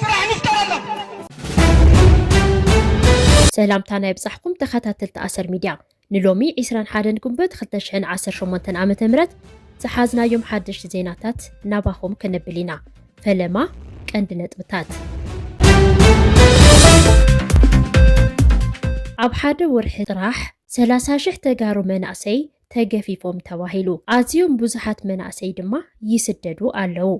ስራሕ ንፍጠረሎም። ሰላምታና ይብጻሕኩም ተኸታተልቲ ኣሰር ሚድያ ንሎሚ ዒስራን ሓደን ግንቦት ክልተ ሽሕን ዓሰርተ ሸሞንተን ዓመተ ምህረት ዝሓዝናዮም ሓደሽቲ ዜናታት ናባኹም ከነብል ኢና። ፈለማ ቀንዲ ነጥብታት ኣብ ሓደ ወርሒ ጥራሕ ሰላሳ ሽሕ ተጋሩ መናእሰይ ተገፊፎም ተባሂሉ ኣዝዮም ብዙሓት መናእሰይ ድማ ይስደዱ ኣለዉ።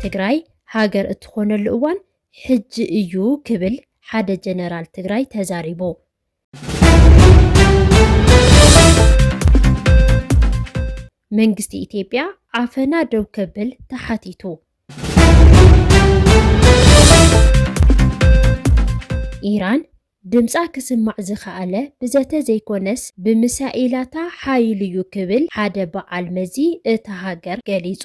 ትግራይ ሃገር እትኾነሉ እዋን ሕጂ እዩ ክብል ሓደ ጀነራል ትግራይ ተዛሪቡ። መንግስቲ ኢትዮጵያ ዓፈና ደው ከብል ተሓቲቱ። ኢራን ድምፃ ክስማዕ ዝኸኣለ ብዘተ ዘይኮነስ ብሚሳኤላታ ሓይሉ'ዩ ክብል ሓደ በዓል መዚ እታ ሃገር ገሊፁ።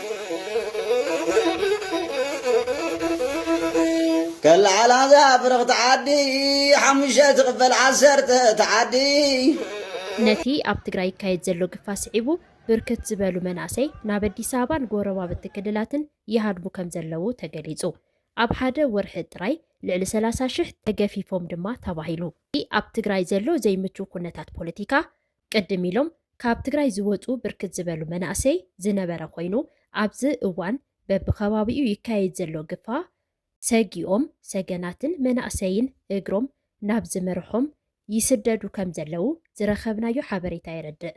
ከላዓ ላዛ ብርኽቲ ዓዲ ሓሙሽተ ትኽፈል ዓሰርተ ትዓዲ። ነቲ ኣብ ትግራይ ይካየድ ዘሎ ግፋ ስዒቡ ብርክት ዝበሉ መናእሰይ ናብ ኣዲስ ኣበባን ጎረባብቲ ክልላትን ይሃድሙ ከምዘለዉ ተገሊፁ። ኣብ ሓደ ወርሒ ጥራይ ልዕሊ ሰላሳ ሽሕ ተገፊፎም ድማ ተባሂሉ። እቲ ኣብ ትግራይ ዘሎ ዘይምቹው ኩነታት ፖለቲካ ቅድም ኢሎም ካብ ትግራይ ዝወፁ ብርክት ዝበሉ መናእሰይ ዝነበረ ኮይኑ ኣብዚ እዋን በቢከባቢኡ ይካየድ ዘሎ ግፋ ሰጊኦም ሰገናትን መናእሰይን እግሮም ናብ ዝመርሖም ይስደዱ ከም ዘለው ዝረኸብናዮ ሓበሬታ የረድእ።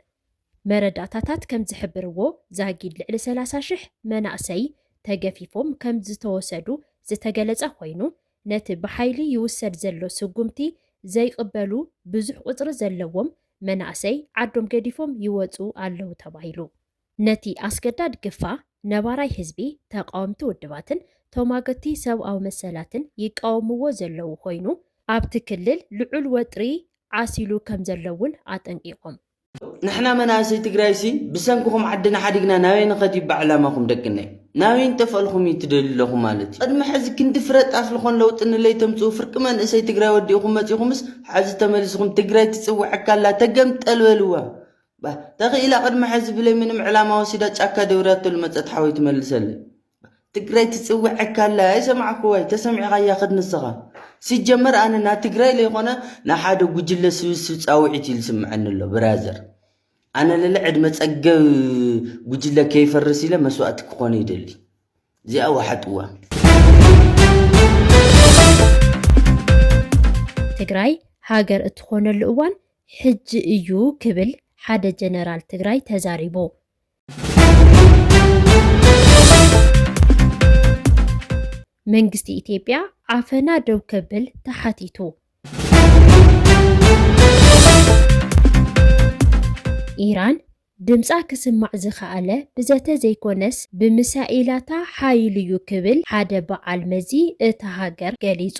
መረዳእታታት ከም ዝሕብርዎ ዛጊድ ልዕሊ ሰላሳ ሽሕ መናእሰይ ተገፊፎም ከም ዝተወሰዱ ዝተገለፀ ኮይኑ ነቲ ብሓይሊ ይውሰድ ዘሎ ስጉምቲ ዘይቕበሉ ብዙሕ ቁፅሪ ዘለዎም መናእሰይ ዓዶም ገዲፎም ይወፁ ኣለው ተባሂሉ። ነቲ ኣስገዳድ ግፋ ነባራይ ህዝቢ፣ ተቓወምቲ ውድባትን ተሟገቲ ሰብኣዊ መሰላትን ይቃወምዎ ዘለው ኾይኑ ኣብቲ ክልል ልዑል ወጥሪ ዓሲሉ ከምዘሎ እውን ኣጠንቂቖም። ንሕና መናእሰይ ትግራይሲ ብሰንክኹም ዓድና ሓዲግና ናበይ ንኸድ እዩ ባዕላማኹም ደቅነይ ናበይ ንጠፈልኹም እዩ ትደልዩ ኣለኹም ማለት እዩ ቅድሚ ሕዚ ክንዲ ፍረ ጣፍ ልኾን ለውጢ ንለይ ተምፅኡ ፍርቂ መንእሰይ ትግራይ ወዲእኹም መፂኹምስ ሓዚ ተመሊስኹም ትግራይ ትፅውዐካ ኣላ ተገምጠል በልዋ ተኽኢላ ቅድሚ ሕዚ ብለይ ምንም ዕላማ ወሲዳ ጫካ ደውርያቶ ልመፀት ሓወይ ትመልሰለይ ትግራይ ትጽውዐካ ኣላ ኣይሰማዕኩ ወይ ተሰሚዕካያ ክድ ንስኻ ሲጀመር ኣነ ና ትግራይ ለይኮነ ንሓደ ጉጅለ ስብስብ ጻውዒት ኢሉ ስምዐኒ ኣሎ ብራዘር ኣነ ለለ ዕድመ ጸገብ ጉጅለ ከይፈርስ ኢለ መስዋእቲ ክኾነ ይደሊ እዚኣ ወሓጥዋ ትግራይ ሃገር እትኾነሉ እዋን ሕጂ እዩ ክብል ሓደ ጀነራል ትግራይ ተዛሪቡ። መንግስቲ ኢትዮጵያ ዓፈና ደው ከብል ተሓቲቱ። ኢራን ድምፃ ክስማዕ ዝኸኣለ ብዘተ ዘይኮነስ ብምሳኤላታ ሓይሉ'ዩ ክብል ሓደ በዓል መዚ እታ ሃገር ገሊፁ።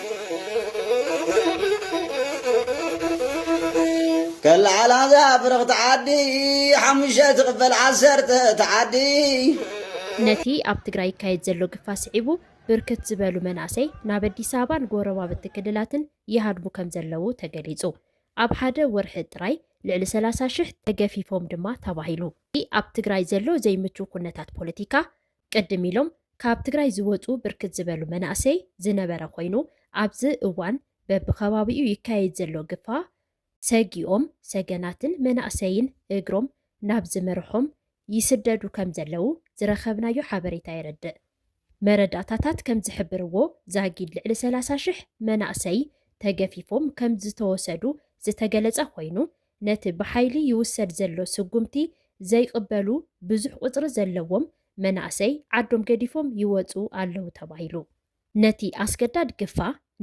ከለዓላ እዛ ፍርቕቲ ዓዲ ሓሙሽተ ትቕበል ዓሰርተ ትዓዲ። ነቲ ኣብ ትግራይ ይካየድ ዘሎ ግፋ ስዒቡ ብርክት ዝበሉ መናእሰይ ናብ ኣዲስ ኣበባን ጎረባብቲ ክልላትን ይሃድሙ ከምዘለዉ ተገሊፁ። ኣብ ሓደ ወርሒ ጥራይ ልዕሊ ሰላሳ ሽሕ ተገፊፎም ድማ ተባሂሉ። እቲ ኣብ ትግራይ ዘሎ ዘይምቹው ኩነታት ፖለቲካ ቅድም ኢሎም ካብ ትግራይ ዝወፁ ብርክት ዝበሉ መናእሰይ ዝነበረ ኮይኑ ኣብዚ እዋን በቢከባቢኡ ይካየድ ዘሎ ግፋ ሰጊኦም ሰገናትን መናእሰይን እግሮም ናብ ዝመርሖም ይስደዱ ከም ዘለው ዝረኸብናዮ ሓበሬታ የረድእ። መረዳእታታት ከም ዝሕብርዎ ዛጊድ ልዕሊ ሰላሳ ሽሕ መናእሰይ ተገፊፎም ከም ዝተወሰዱ ዝተገለፀ ኮይኑ ነቲ ብሓይሊ ይውሰድ ዘሎ ስጉምቲ ዘይቕበሉ ብዙሕ ቁፅሪ ዘለዎም መናእሰይ ዓዶም ገዲፎም ይወፁ ኣለው ተባሂሉ። ነቲ ኣስገዳድ ግፋ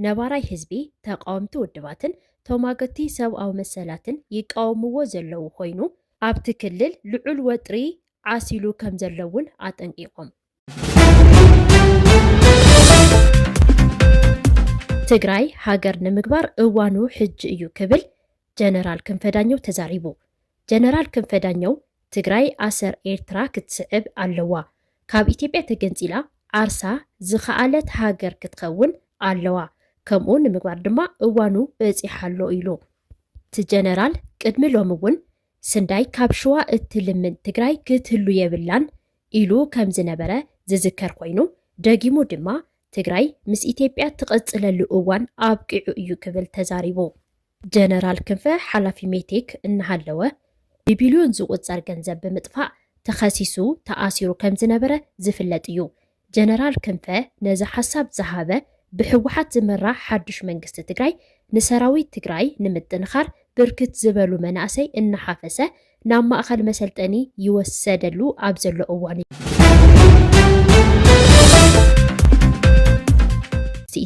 ነባራይ ህዝቢ፣ ተቓወምቲ ውድባትን ተሟገትቲ ሰብኣዊ መሰላትን ይቃወምዎ ዘለው ኾይኑ ኣብቲ ክልል ልዑል ወጥሪ ዓሲሉ ከምዘሎ እውን ኣጠንቂቖም። ትግራይ ሃገር ንምግባር እዋኑ ሕጂ እዩ ክብል ጀነራል ክንፈ ዳኘው ተዛሪቡ። ጀነራል ክንፈ ዳኘው ትግራይ ኣሰር ኤርትራ ክትስዕብ ኣለዋ፣ ካብ ኢትዮጵያ ተገንፂላ ዓርሳ ዝኸኣለት ሃገር ክትኸውን ኣለዋ፣ ከምኡ ንምግባር ድማ እዋኑ በፂሓ ኣሎ ኢሉ። እቲ ጀነራል ቅድሚ ሎሚ እውን ስንዳይ ካብ ሽዋ እትልምን ትግራይ ክትህሉ የብላን ኢሉ ከም ዝነበረ ዝዝከር ኮይኑ፣ ደጊሙ ድማ ትግራይ ምስ ኢትዮጵያ ትቕፅለሉ እዋን ኣብቂዑ እዩ ክብል ተዛሪቡ። ጀነራል ክንፈ ሓላፊ ሜቴክ እናሃለወ ብቢልዮን ዝቑፀር ገንዘብ ብምጥፋእ ተኸሲሱ ተኣሲሩ ከም ዝነበረ ዝፍለጥ እዩ። ጀነራል ክንፈ ነዚ ሓሳብ ዝሃበ ብህወሓት ዝምራሕ ሓዱሽ መንግስቲ ትግራይ ንሰራዊት ትግራይ ንምጥንኻር ብርክት ዝበሉ መናእሰይ እናሓፈሰ ናብ ማእኸል መሰልጠኒ ይወሰደሉ ኣብ ዘሎ እዋን እዩ።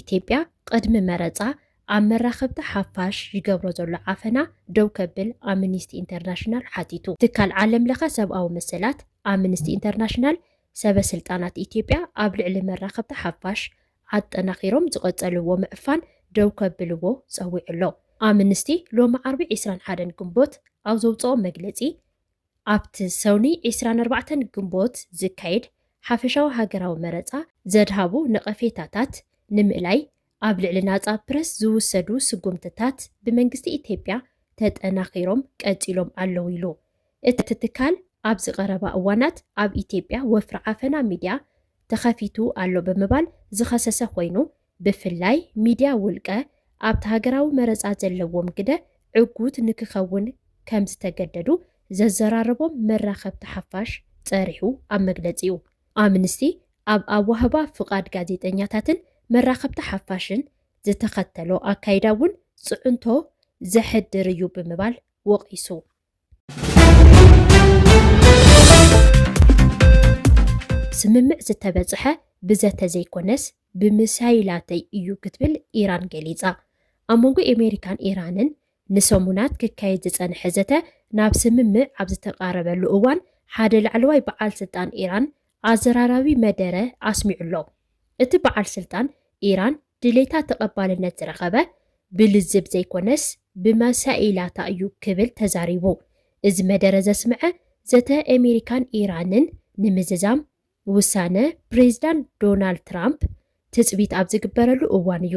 ኢትዮጵያ ቅድሚ መረፃ ኣብ መራኸብቲ ሓፋሽ ይገብሮ ዘሎ ዓፈና ደው ከብል ኣምኒስቲ ኢንተርናሽናል ሓቲቱ። ትካል ዓለም ለኸ ሰብኣዊ መሰላት ኣምኒስቲ ኢንተርናሽናል ሰበ ስልጣናት ኢትዮጵያ ኣብ ልዕሊ መራኸብቲ ሓፋሽ ኣጠናኺሮም ዝቐፀልዎ ምዕፋን ደው ከብልዎ ፀዊዑ ኣሎ። ኣምንስቲ ሎሚ ዓርቢ ዕስራን ሓደን ግንቦት ኣብ ዘውፀኦ መግለፂ ኣብቲ ሰኑይ ዕስራን ኣርባዕተን ግንቦት ዝካየድ ሓፈሻዊ ሃገራዊ መረፃ ዘድሃቡ ነቐፌታታት ንምእላይ ኣብ ልዕሊ ናፃ ፕረስ ዝውሰዱ ስጉምትታት ብመንግስቲ ኢትዮጵያ ተጠናኺሮም ቀፂሎም ኣለው ኢሉ። እቲ ትካል ኣብዚ ቀረባ እዋናት ኣብ ኢትዮጵያ ወፍሪ ዓፈና ሚድያ ተኸፊቱ ኣሎ ብምባል ዝኸሰሰ ኮይኑ ብፍላይ ሚድያ ውልቀ ኣብቲ ሃገራዊ መረፃ ዘለዎም ግደ ዕጉት ንክኸውን ከምዝተገደዱ ዘዘራረቦም መራኸብቲ ሓፋሽ ፀሪሑ ኣብ መግለፂኡ። ኣምንስቲ ኣብ ኣዋህባ ፍቓድ ጋዜጠኛታትን መራኸብቲ ሓፋሽን ዝተኸተሎ ኣካይዳ እውን ፅዕንቶ ዘሕድር እዩ ብምባል ወቒሱ። ስምምዕ ዝተበፅሐ ብዘተ ዘይኮነስ ብምሳይላተይ እዩ ክትብል ኢራን ገሊፃ። ኣብ መንጎ ኤሜሪካን ኢራንን ንሰሙናት ክካየድ ዝጸንሐ ዘተ ናብ ስምምዕ ኣብ ዝተቓረበሉ እዋን፣ ሓደ ላዕለዋይ በዓል ስልጣን ኢራን ኣዘራራቢ መደረ ኣስሚዑ'ሎ። እቲ በዓል ስልጣን፣ ኢራን ድሌታ ተቐባልነት ዝረኸበ ብልዝብ ዘይኮነስ ብመሳኢላታ እዩ ክብል ተዛሪቡ። እዚ መደረ ዘስምዐ ዘተ ኤሜሪካን ኢራንን ንምዝዛም ውሳነ ፕሬዚዳንት ዶናልድ ትራምፕ ትጽቢት ኣብ ዝግበረሉ እዋን እዩ።